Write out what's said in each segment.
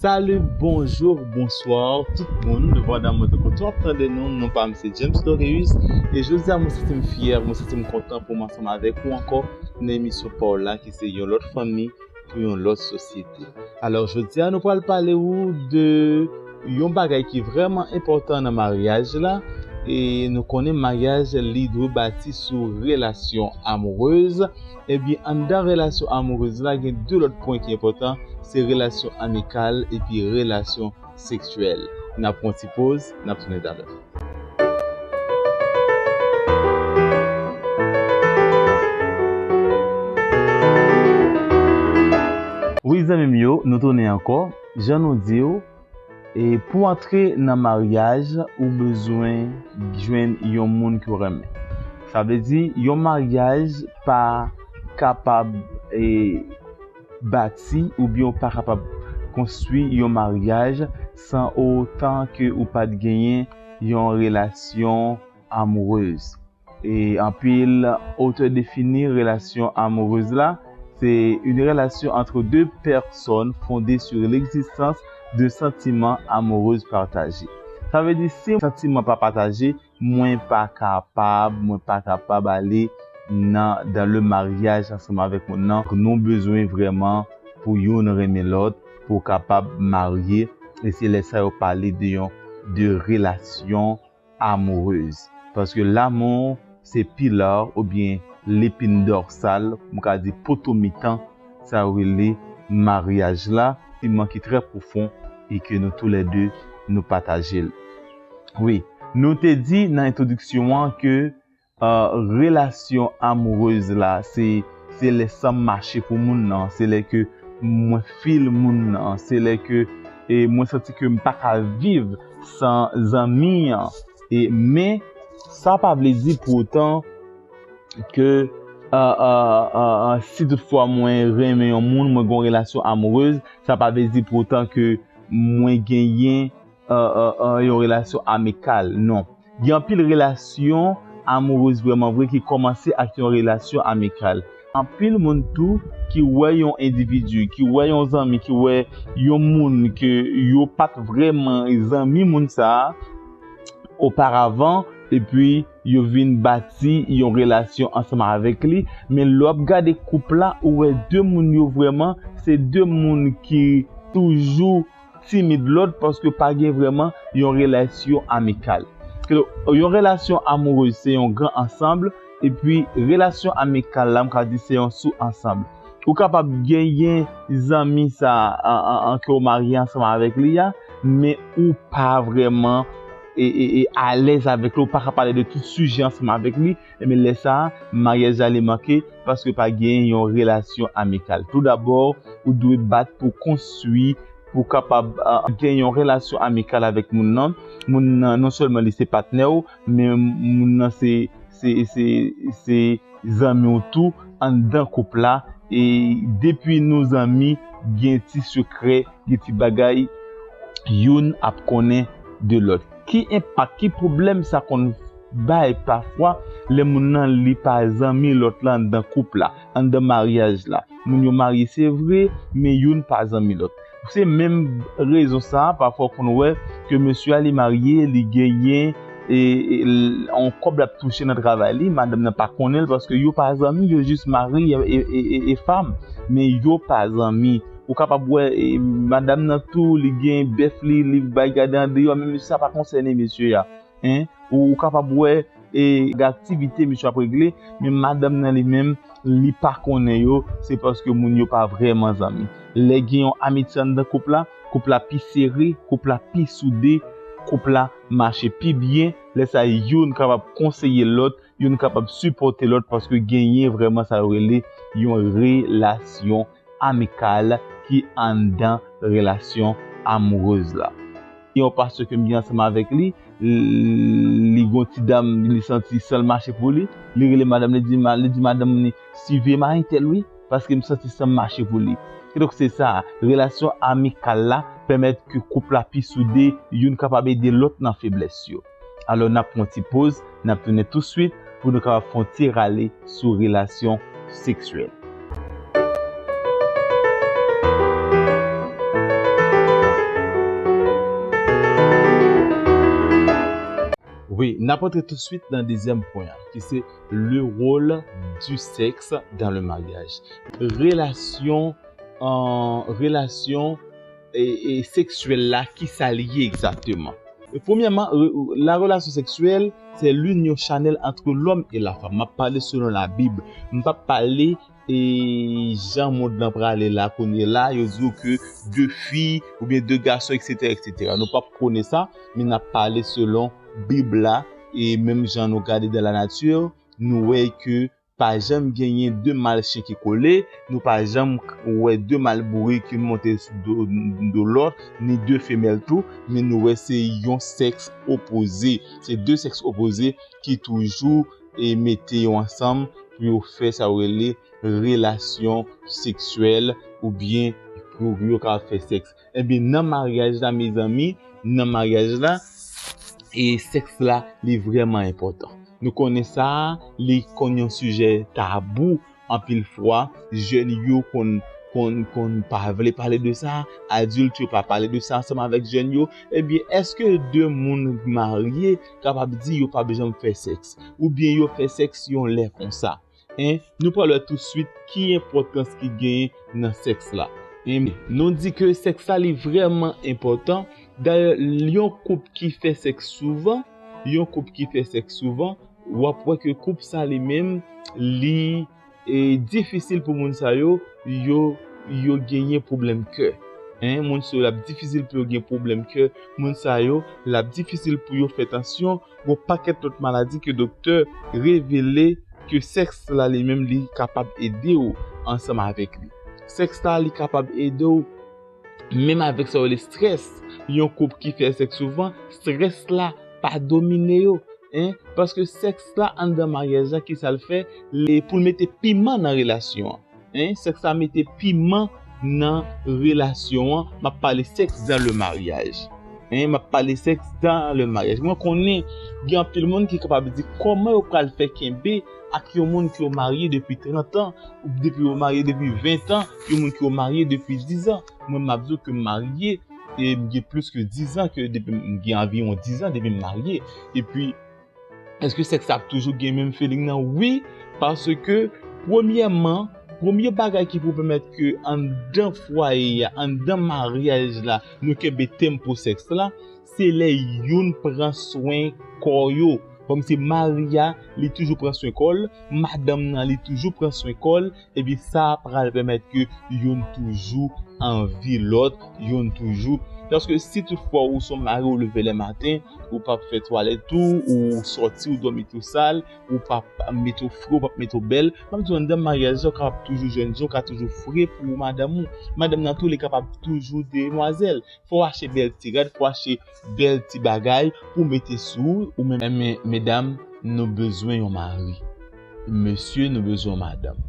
Salut bonjour bonsoir tout moun nou pandan mwen te kontou ap tande nou non pam se James Doreus e jodi a mwen santim fyè mwen santim kontan pou m ansanm avèk ou ankò nan emisyon paw la ki se yon lòt fanmi pou yon lòt sosyete alò jodi a nou pral pale ou de yon bagay ki vrèman enpòtan nan maryaj la e nou konnen maryaj li dwe bati sou relasyon amourèz. Ebyen anndan relasyon amourez la gen 2 lòt pwen ki enpòtan se relasyon amikal epi relasyon seksyèl. Nap pran ti poz, nap tounen talè. Wi zanmim yo nou tounen ankò jan nou diw. E pou antre nan maryaj ou bezwen jwenn yon moun ke w renmen. Sa vle di yon maryaj pa kapab e bati oubyen ou pa kapab konstwi yon maryaj san otan ke ou pat genyen yon relasyon amourez. E anpil otè defini relasyon amourez la se yn relasyon antre de pèsòn fonde sur legzistans de santiman amourez pataje. Sa vle di si santiman pa pataje, mwen pa kapab, mwen pa kapab ale nan dans le mariage ansanm avèk moun nan. Nou bezwen vrèman pou youn renmen lòt pou kapab marye e se lè sa yo pale de yon de relasyon. amoureuse paske l'amour se pilar oubyen l'épine dorsale m ka di poto mitan sa yo rele maryaj la siman ki trè pwofon e ke nou tou lè 2 nou pataje l wi nou te di nan entwodiksyon an ke Relasyon amoureuse la se lè sanm mache pou moun nan, se lè ke mwen feel moun nan, se lè ke mwen santi ke m paka viv san zanmi an. Men sa pa vle di pou otan ke si tout fwa mwen renmen yon moun, mwen gen yon relasyon amoureuse, sa pa vle di pou otan ke mwen genyen yon relasyon amikal, non. Gen anpil relasyon amourez vrèman vre ki kòmanse ak yon relasyon amikal. Anpil moun tou ki wè yon endividi, ki wè yon zanmi, ki wè yon moun ke yo pa t vrèman zanmi moun sa a oparavan epi yo vin bati yon relasyon ansanm avèk li. Men lè w ap gade koup la, ou wè de moun yo vrèman se de moun ki toujou. timid lòt paske pa gen vrèman yon relasyon amikal. Yon relasyon amourez se yon gran ansanbl, epi relasyon amikal la m ka di se yon sou ansanbl. Ou kapab genyen zanmi sa a ke ou marye ansanm avèk li a, men ou pa vrèman alèz avèk li, ou pa ka pale de tout sijè ansanm avèk li, Enben lè sa a, maryaj la ale manke paske pa genyen yon relasyon amikal. Toudabò, ou dwe bat pou w konstwi, pou w kapab gen yon relasyon amikal avèk moun nan. Moun nan non sèlman li se patnè w, men moun nan se zanmi w tou anndan koup la. E depi nou zanmi, gen ti sekrè, gen ti bagay youn ap konnen de lòt. Ki enpak, ki pwoblèm sa konn Bay pafwa lè moun nan li pa zanmi lòt la anndan koup la, anndan maryaj la. Moun yo marye se vre, men youn pa zanmi lòt. Se menm rezon sa a pafwa w konn wè ke mesye a li marye, li genyen yon kòb l ap touche nan travay li, madanm nan pa konnen l paske yo pa zanmi, yo jis mari e fam, men yo pa zanmi. Ou kapab wè madanm nan tou li gen bèf li, li bay gade andeyò, men sa pa konsène mesye a. Hein ou kapab wè e gade aktivite misye ap regle men madanm nan li menm li pa konnen yo se paske moun yo pa vrèman zanmi lè gen yon amitye anndan koup la koup la pi sere koup la pi soude koup la mache pi byen lè sa youn kapab konseye lòt youn kapab sipòte lòt paske genyen vrèman sa yo rele yon relasyon amikal ki anndan relasyon amourez la. Gen yon pastè kem gen ansanm avèk li, li gen yon ti dam li santi sanl mache pou li, li rele madanm li li di madanm li siviye mari tèl wi paskem santi sanm mache pou li. Kidonk se sa, relasyon amikal la pèmèt ke koup la pi soude, youn kapab ede lòt nan feblès yo. Alò nap pran ti poz, nap tounen touswit pou nou kapab fè yon ti rale sou relasyon seksyèl. Wi, nap antre touswit nan dezyèm pwen an ki se le rôle du sexe dans le mariage. Relasyon, relasyon. E seksyèl la ki sa li ye egzakteman? Premyèman, la relasyon seksyèl se linyon chanèl antre lòm e lafanm. M ap pale selon Labib. M p ap pale jan mond lan prale la kounye la, yo di w ke de fi oubyen de gason eksetera eksetera. Nou p ap prone sa, men n ap pale selon Bib la e menm jan nou gade dan lanati, nou wè ke. Pa janm genyen 2 mal chen ki kole, nou pa janm k wè 2 mal bourik youn monte sou do do lòt, ni 2 femèl tou, men nou wè se yon sèks opoze, se 2 sèks opoze ki toujou e mete yo ansanm pou yo fè sa yo rele relasyon seksyèl oubyen pou yo ka fè sèks. Ebyen nan maryaj la mezanmi, nan maryaj la, e sèks la li vrèman enpòtan. Nou konnen sa, li konn yon sijè tabou anpil fwa, jèn yo konn konn konn pa vle pale de sa, adilt yo pa pale de sa ansanm avèk jèn yo, ebyen èske 2 moun marye kapab di yo pap janm fè sèks? Oubyen yo fè sèks yon lè konsa? 1 nou pral wè tou swit ki enpòtans ki genyen nan sèks la 1 nou di ke sèks la li vrèman enpòtan dayè yon koup ki fè sèks souvan yon koup ki fè sèks souvan wap wè ke koup sa li menm li e difisil pou moun sa yo yo yo genyen pwoblèm kè 1 moun sa yo lap difisil pou yo gen pwoblèm kè moun sa yo lap difisil pou yo fè tansyon Gon pakèt lòt maladi ke doktè revele ke sèks la li menm li kapab ede w ansanm avèk li. Sèks la li kapab ede w menm avèk sa yo rele strès. Yon koup ki fè sèks souvan, strès la pa domine yo. Paske sèks la anndan maryaj la kisa l fè, pou l mete piman nan relasyon an. Hein sèks la mete piman nan relasyon an map pale sèks dan le maryaj hein map pale sèks dan le maryaj mwen konnen gen anpil moun ki kapab di kòman yo pral fè kenbe ak yon moun ki yo marye depi 30 an ou depi yo marye depi 20 an yon moun ki yo marye depi 10 an mwen map di w ke m marye e m gen plis ke 10 an ke depi m gen anviwon 10 an depi m marye epi Eske sèks la ap toujou gen menm feeling nan? Wi, paske premyèman, premye bagay ki pou pèmèt ke anndan fwaye a, anndan maryaj la, nou kenbe tèm pou sèks la, se lè youn pran swen kò yo. Kòm se mari a, li toujou pran swen kò l, madanm nan li toujou pran swen kò l, Epi sa pral pèmèt ke youn toujou anvi lòt, youn toujou, paske si tout fwa ou son mari ou leve lè maten, ou pap fè twalèt ou, ou sòti ou dòmi tou sal, ou pap mete ou fre, ou pap mete ou bèl, map diw anndan maryaj la ou kapab toujou jèn jan, ou ka toujou fre pou madanm ou, madanm nan tou li kapab toujou demwazèl, fòw achte bèl ti rad, fòw achte. Bel ti bagay pou mete sou ou men. Enben medam nou bezwen yon mari mesye nou bezwen yon madanm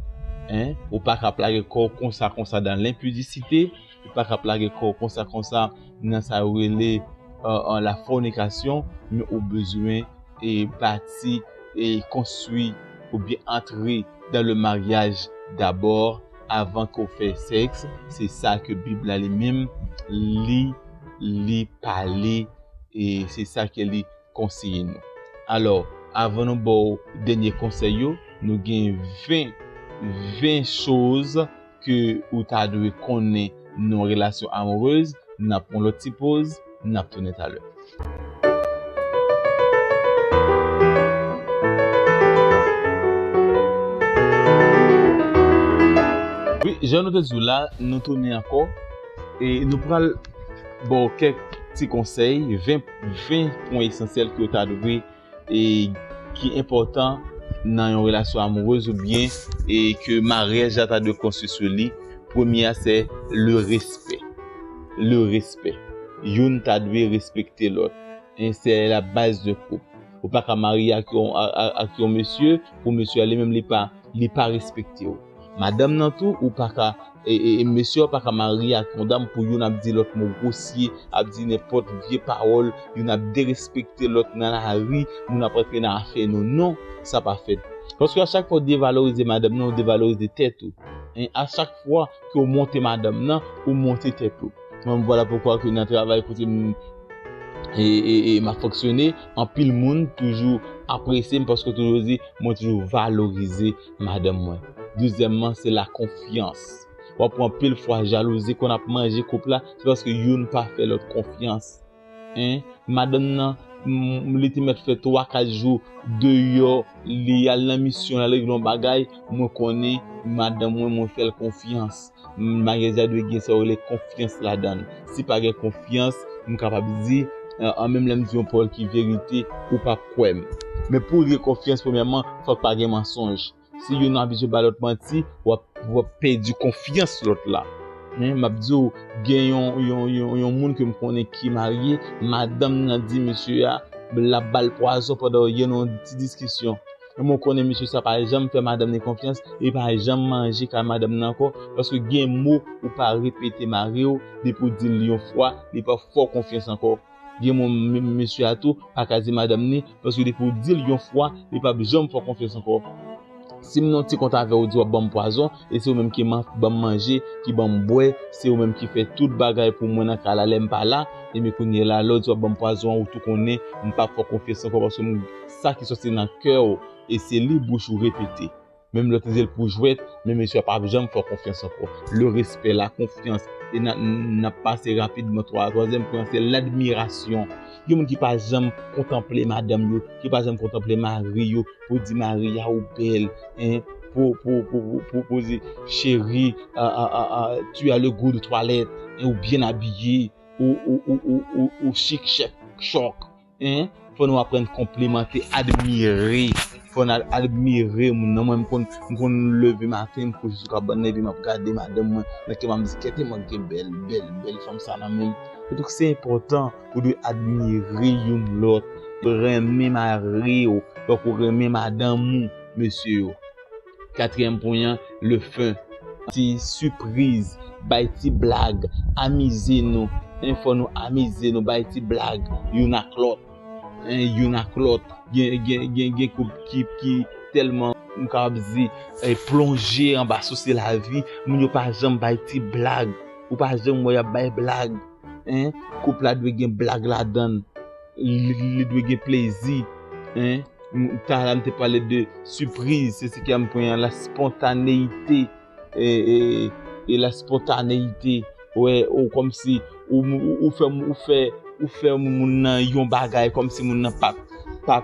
hein ou pa ka ap lage kò w konsa konsa dan lenpidisite ou pa ka ap lage kò w konsa konsa nan sa yo rele la fònikasyon men ou bezwen e bati e konstwi ou byen antre dan le maryaj dabò. avan ke w fè sèks se sa ke bib la li menm li li pale e se sa ke li konseye nou alò avan nou ba w dènye konsèy yo nou gen 20 20 choz ke ou ta dwe konnen. Nou relasyon amoureuse nap pran lòt ti poz nap tounen talè. Wi jan nou te di w la nou tounen ankò e nou pral ba w kèk ti konsèy 20 pwen esansyèl ke w ta dwe e ki enpòtan nan yon relasyon amourez ou byen e ke maryaj la ta dwe konstwi sou li, premye a se le respè. Le respè. Youn ta dwe respekte lòt. E se la baz de koup. Ou pa ka marye ak yon mesye, pou mesye a li menm li pa respekte ou. Madanm nan tou ou pa ka E mesye yo paka marye ak yon dam pou youn ap di lòt mo gwosye, ap di nenpòt vye pawòl, youn ap derespekte lòt nan lari, moun ap rantre nan afè nou. Non, sa pa fèt. Paske a chak fwa ou devalorize madanm nan, ou devalorize tèt ou. E a chak fwa ke ou monte madanm nan, ou monte tèt ou. Mwen m vwala poukwa ke nan travay kote m e m ap fonksyone, anpil moun toujou apresye m paske toujou di mwen toujou valorize. Madanm mwen. Dezyèmman, se lakonfyans. W ap wè anpil fwa jalouzi konn ap manje koup la, se paske youn pa fè lòt konfyans. 1, Madanm nan, li te mèt fè twa kat jou deyò, li al nan misyon, l al regle yon bagay, mwen konnen madanm mwen, mwen fè l konfyans. Maryaj la dwe gen sa yo rele konfyans ladan l. Si pa gen konfyans, m kapab di, an menm lè m di yon pawòl ki verite, ou p ap kwè m. Men pou gen konfyans premyèman, fòk pa gen mansonj. Si youn abitye ba lòt manti, w ap pèdi konfyans lòt la. M ap di w, gen yon moun ke m konnen ki marye, madanm nan di mesye a l ap ba l pwazon pandan yo gen yon ti diskisyon. E mwen konnen mesye sa pa janm fè madanm ni konfyans e pa janm manje kay madanm nan ankò paske gen mo ou pa repete mariw depi ou dil yon fwa li pa fè w konfyans ankò gen mo menm mesye a tou pa ka di madanm ni paske depi ou dil yon fwa li pap janm fè w konfyans ankò sim nan ti kont avèw ou di wap banm pwazon e se ou menm ki ban m manje, ki ban m bwè, se ou menm ki fè tout bagay pou mwen nan kay la lè m pa la, e men kounyela lè w di w ap ban m pwazon an ou tou konnen m pap fè w konfyans ankò paske m sa ki sòti nan kè w e se li bouch ou repete menm lè w te di l pou jwèt men mesye a pap janm fè w konfyans ankò le respect la confiance e nap pase rapidman twazyèm pwen an se l'admiration Gen moun ki pa janm kontanple madanm yo, ki pa janm kontanple mari yo, pou di mari a ou bèl, pou pou di cheri tu as le gout de toilette, ou byen abiye, ou chik chèk chòk. Fò nou aprann konplimante, admire, fò nou admire moun nan. Mwen m konn leve maten, m kouche sou kabann nan epi m ap gade madanm mwen, nan kè m ap di kèt e manke bèl, bèl, bèl fanm sa nan menm. Donk se enpòtan. ou dwe admire youn lòt, dwe renmen mari w tankou w renmen madanm ou, mesye yo. Katriyèm pwen an, le fen. Ti sipriz, bay ti blag, amize nou, en fò nou amize nou, bay ti blag youn ak lòt, en youn ak lòt, gen koup ki tèlman, m kapab di, plonje anba sousi lavi, moun yo pa janm bay ti blag, ou pa janm wè y ap bay blag. hein koup la dwe gen blag ladann li dwe gen plezi hein Tara m te pale de sipriz se siki a m pran an la spontaneyite e la spontaneyite wè ou kòmsi ou fè ou fè ou fè moun nan yon bagay kòmsi moun nan pa pa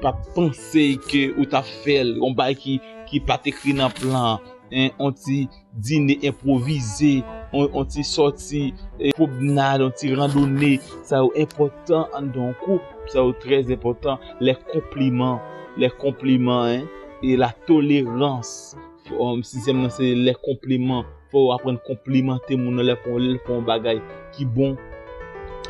pa panse ke ou ta fè l yon bagay ki ki pa t ekri nan plan an hein on ti Dine enpwovize, yon ti sòti, pwobnad, yon ti randone, sa yo enpòtan anndan yon koup, sa yo trè enpòtan, lè konpliman, lè konpliman en, e la tolerans, sizyèm nan se lè konpliman, fò ou aprann konplimante moun nan lè fè yon bagay ki bon,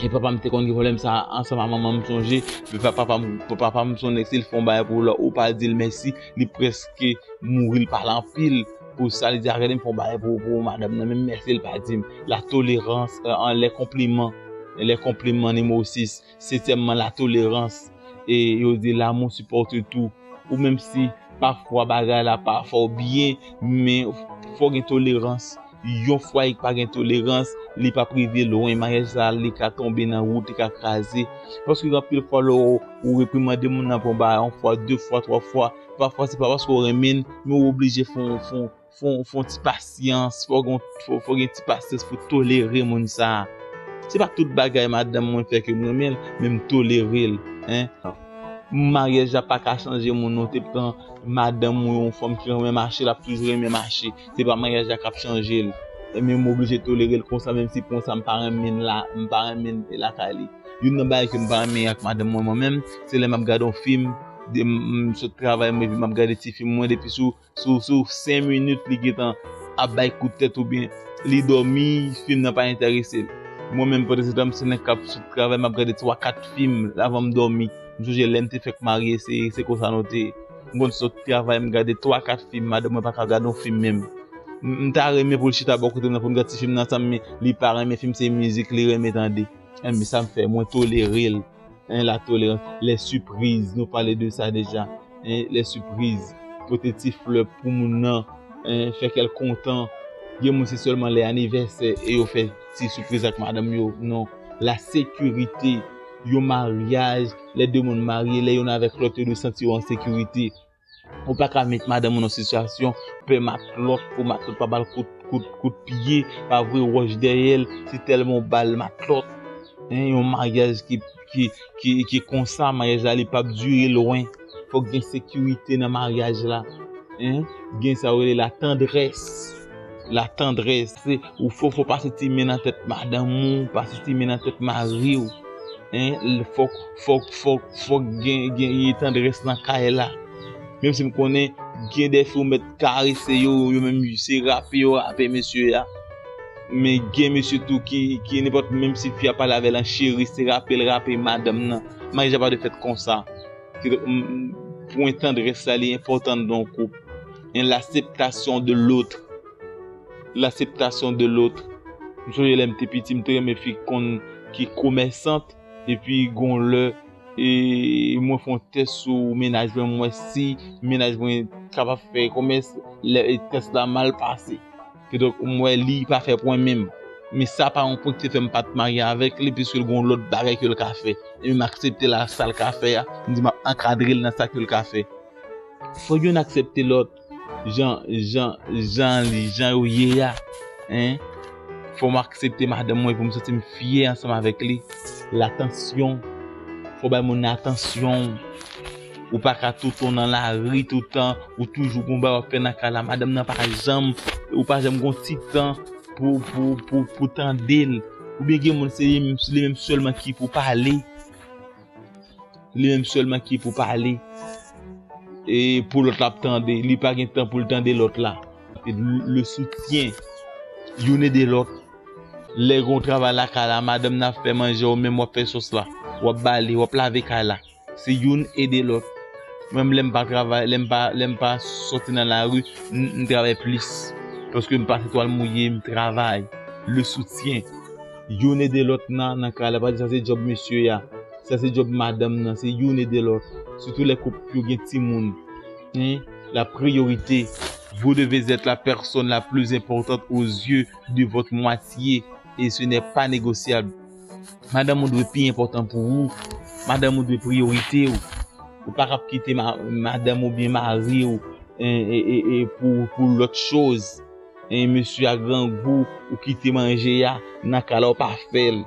e papa m te konn gen pwoblèm sa a ansanm ak manman m sonje, papa m, papa m se yon nèg si l fè yon bagay pou ou la ou pa di l mèsi li prèske mouri l pale anpil. Pou sa li di a rele fon bagay pou pou madam nan menm mèsi li pa dim la tolerans an lè konpliman lè konpliman nimo 6 setyèmman la tolerans e yo di lamou sipòte tou ou menm si pa fwa bagay la pa fò byen men fò gen tolerans yon fwa ek pa gen tolerans li pa prive lwen maryaj sa li ka tonbe nan wout li ka kraze paske gen anpil fwa lò ou reprimande moun nan pou yon bagay yon fwa 2 fwa 3 fwa Pafwa se pa paske ou renmen l, men ou oblije fè yon ti pasyans, fè yon ti pasyans pou tolere moun sa. Se pa tout bagay madanm mwen fè ke m renmen l, men m tolere l. Maryaj la pa ka chanje moun non, te pran madanm ou yon fanm ki renmen mache, l ap toujou renmen mache. Se pa maryaj la k ap chanje l. Men m oblije tolere l konsa, menm si konsa m pa renmen l lakay li. Youn nan bagay ke m pa renmen ak madanm mwen mwen menm, se lè m ap gade yon fim. Dem sot travay mwen vin map gade ti film mwen depi sou sou 5 minit li gentan ap bay kout tèt oubyen li dòmi film nan pa entèresel. Mwen menm pandansetan m se nèg kap sot travay map gade 3 4 film avan m dòmi. M sonje lèm te fèk marye se se konsa nou te ye. M konn sot travay m gade 3 4 film madanm mwen paka gad yon film menm. M ta renmen poul chita bò kotem nan poun gad ti film nan ansanm men li pa renmen film se mizik li renmen tande. Ebyen sam fè mwen tolerel. Hein, la tolérance, les surprises, nou pale de sa deja. Hein, les surprises, pote ti flè pou moun nan, hein, fè kèl kontan. Gen moun se sèlman lè anivèsè e yo fè ti surprise ak madame yo. Non, la sécurité, yon mariage, lè de moun marye, lè yon avèk lòt yo dwe santi yo an sécurité. Ou pa ka met madanm ou nan sitiyasyon pè matlòt pou matlòt pa ba l kout pye, pa voye wòch dèyè l, se tèlman ou ba l matlòt. Yon maryaj ki konsa, maryaj la li pap dire lwen. Fòk gen sekirite nan maryaj la. Gen sa yo rele la tandrès. La tendresse ou fò fò pase ti men nan tèt madanm ou pase ti men nan tèt mari ou hein fòk fòk fòk fòk gen gen yon tendresse nan kay la menm si m konnen gen dè fi ou mèt karese yo yo menm se rape yo rape mesye a men gen mesye tou ki ki nenpòt menm si fi a pale avè l an cheri se rape l rape madanm nan maryaj la pa dwe fèt konsa. Pwen tandrès la li enpòtan nan yon koup. Yon laseptasyon de lotr. Laseptasyon de lotr. M sonje lè m te piti m te renmen fi konn ki komèsant. Epi gon lè e mwen fon tès sou menaj mwen m wè si menaj mwen kapab fè komès. Lè tès la mal pase. Kidonk, m wè li pa fè pwen menm. Men sa pa yon pwen ki te fè m pa t marye avèk li, piske l gen yon lòt bagay ke l ka fè. Ebyen, m aksepte l a sa l ka fè a, m di m ap ankadre l nan sa ke l ka fè. Fò youn aksepte lòt jan, jan, jan li, jan yo ye a, hein. Fò m aksepte madanm mwen pou m santi m fyè ansanm avèk li. L atansyon, fò w bay moun nan atansyon w. Ou pa ka tonton nan lari toutan, ou toujou gon bagay wap fè nan kay la, madanm nan pa janm, ou pa janm gon ti tan pou pou pou pou tandel, oubyen gen moun se li menm sèlman ki pou pale, li menm sèlman ki pou pale, e pou lòt la ap tande, li pa gen tan poul tande lòt la. Le soutien, youn ede lòt, lè gon travay lakay la, madanm nan ap fè manje ou menm wap fè sòs la, wap bale, wap lave kay la. Se youn ede lòt. Mwen menm lè m pa travay, lè m pa, lè m pa sòti nan lari, m, m travay plis. Paske m pase twal mouye, m travay. Le soutien. Youn ede lòt nan, nan kay la. Pa di sa se djòb mesye a. Sa se djòb madanm nan. Se youn ede lòt. Sitou lè koup yo gen timoun. Hein? La priorité. Vous devez être la personne la plus importante aux yeux de votre moitié et ce n'est pas négociable. Madanm ou dwe pi enpòtan pou ou, madanm ou dwe priyorite ou, ou pa kab kite madanm ou byen mari ou pou lòt choz, mesye a grangou ou kite manje a nan kala ou pa fèl,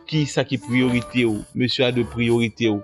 kisa ki priyorite ou, mesye a dwe priyorite ou.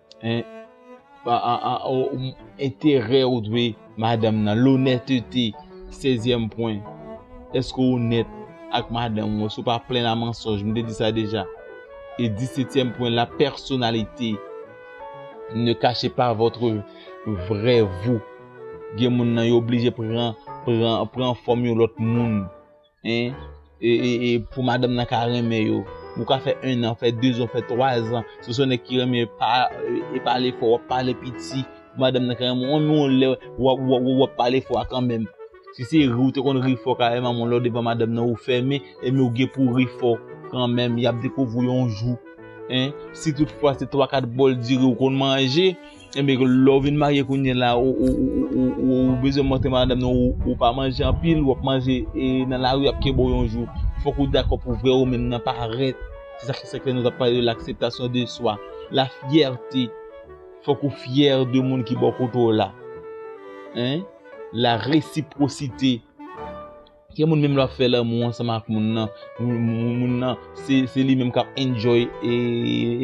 Hein Enterè ou dwe madanm nan, lonètete, sezyèm pwen, èske ou onèt ak madanm ou, èske ou pa plen a mansonj, m te di sa deja, e disetyèm pwen la pèsonalite, ne kache pa vòtre vrè vou, gen moun nan yo oblije pran fòm yon lòt moun. e pou madanm nan ka renmen yo, ou ka fè 1 an, fè 2 zan, fè 3 zan, si son nèg ki renmen pa, e pale fò, wap pale piti, pou madanm nan ka renmen ou, menm yon lè wap pale fò a kanmenm, si se ri ou te konn ri fò kareman, men lè ou devan madanm nan ou fèmen, e men ou gen pou ri fò, kanmenm, yap dekouvri w yon jou, si tout fwa se 3, 4 bòl diri ou konn manje, Ebyen lè ou vin marye kounye la ou bezwen montre madanm nan ou pa manje anpil, wap manje nan lari yap kebe w yon jou. Fòk ou dakò pou vrè ou menm nan parèt. Se sa ki se ke nou tap pale de l'akseptasyon de swa, la fyète. Fòk ou fyè de moun ki bò kote w la. La resipwosite. Gen moun menm lè wap fè lanmou ansanm ak moun nan, moun nan se li menm kap enjoy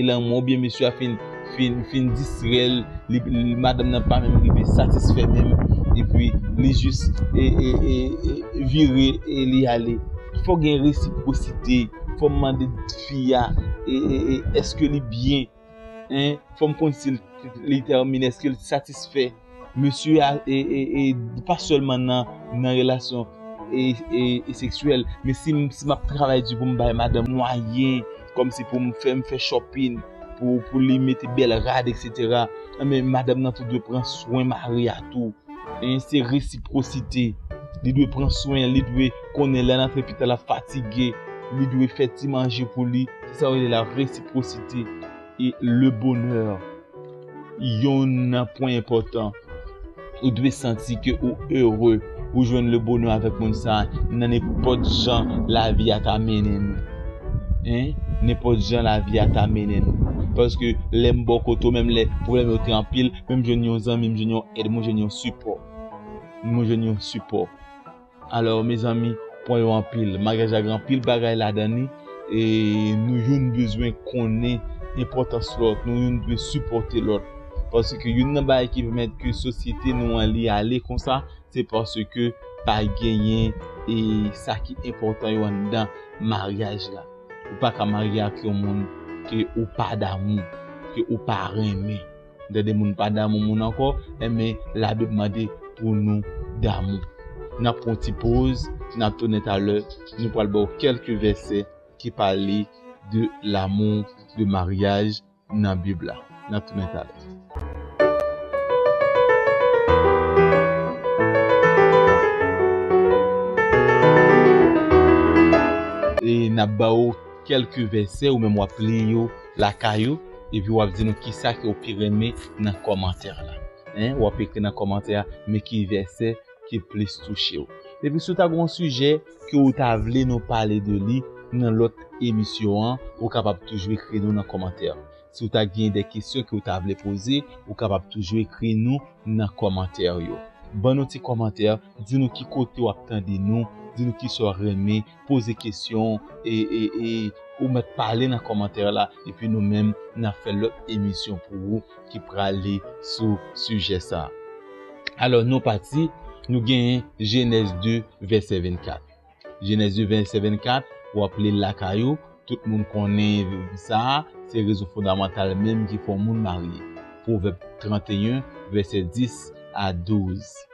lanmou an oubyen mesye a fin fin distrèl, madanm nan pa menm rive satisfè menm epi li jis vire li ale. Fòk gen resiprosite, fòm mande fi a eske li byen. Hein fòm konn sil li tèmine eske li satisfè mesye a e pa sèlman nan nan relasyon e seksyèl men si map travay di poum bay madanm mwayen kòmsi poum fèm fè chòpin pou li mete bèl rad eksetera anben madanm nan tou dwe pran swen mari a tou hein se resiprosite li dwe pran swen li dwe konnen lèl antre pitan lap fatige li dwe fè ti manje pou li. Se sa yo rele la resiprosite e le bonè. Yon nan pwen enpòtan, ou dwe santi ke ou ere, ou jwenn le bonè avèk moun sa a, nan nenpòt jan lavi a ta mennen nou. Hein? Nenpòt jan lavi a ta mennen nou. Paske lè m bò kote w, menm lè pwoblèm yo te anpil, men m jwenn yon zanmi, m jwenn yon èd, mwen jwenn yon sipò. Mwen jwenn yon sipò. Alò mezanmi pwen yo anpil, maryaj la gen anpil bagay ladan li e nou youn bezwen konnen enpòtans lòt, nou youn dwe sipòte lòt paske youn nan bagay ki pèmèt ke sosyete nou an li ale konsa se paske pa genyen e sa ki enpòtan yo anndan maryaj la ou pa ka marye ak yon moun ke ou pa damou, ke ou pa renmen. Lè de moun pa damou moun ankò, enben labib mande pou nou damou. Nap pran yon ti poz, nap tounen talè, nou pral baw kèlke vèsè ki pale de lamou, de maryaj nan bib la. Nap tounen talè. E nap baw kèlke vèsè ou menm wap li yo. Lakay ou epi wap di nou kisa ke ou pi renmen nan kòmantè la hein wap ekri nan kòmantè a men ki vèsè ki plis touchew epi si ou ta gen yon sijè ke ou ta vle nou pale de li nan lòt emisyon an ou kapab toujou ekri nou nan kòmantè si ou ta gen de kesyon ke ou ta vle poze ou kapab toujou ekri nou nan kòmantè yo ban nou ti kòmantè di nou ki kote wap tande nou di nou kisa ou renmen poze kesyon e e ou mèt pale nan kòmantè la epi nou menm nap fè lòt emisyon pou ou ki prale sou sijè sa. Alò nou pati nou gen jenèz 2 vèsè 24 jenèz 2 vèsè 24 wap li l lakay ou tout moun konnen sa se rezon fondamantal menm ki fè yon moun marye pwovèb 31 vèsè 10 a 12.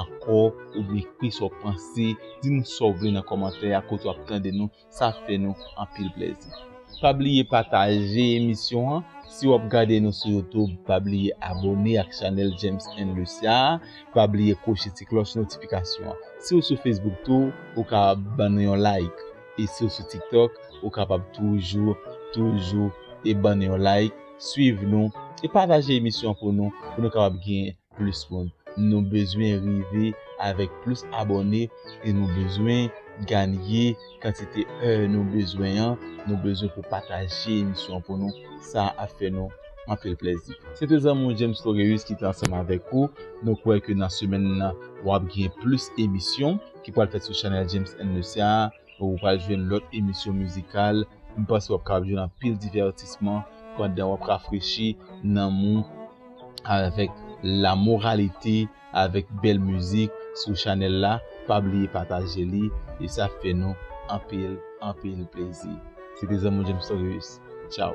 ankò oubyen ekri sa w panse, di nou sa w vle nan kòmantè a kote w ap tande nou, sa ap fè nou anpil plèzi. Pa bliye pataje emisyon an, si w ap gade nou sou YouTube pa bliye abòne ak chanèl James and Lucia a, pa bliye kwoche ti klòch notifikasyon an. Si w sou Facebook tou ou ka ban nou yon like e si w sou TikTok ou kapab toujou toujou e ban nou yon like, swiv nou e pataje emisyon an pou nou pou nou kapab gen plis moun nou bezwen rive avèk plis abòne e nou bezwen ganye kantite èr nou bezwen an nou bezwen pou pataje emisyon pou nou sa ap fè nou anpil plèzi se te zanmi w James Laureus ki te ansanm avèk ou nou kwè ke nan semèn nan wap gen plis emisyon ki pwal fèt sou chanèl James and Lucia a. Ou pral jwenn lòt emisyon mizikal, m panse w ap kapab jwenn anpil divètisman pandan w ap rafrechi nanm ou avèk la moralite, avèk bèl mizik sou chanèl la. Pa bliye pataje li e sa ap fè nou anpil, anpil plezi. Se te zanmi w James Torius. Tchaw!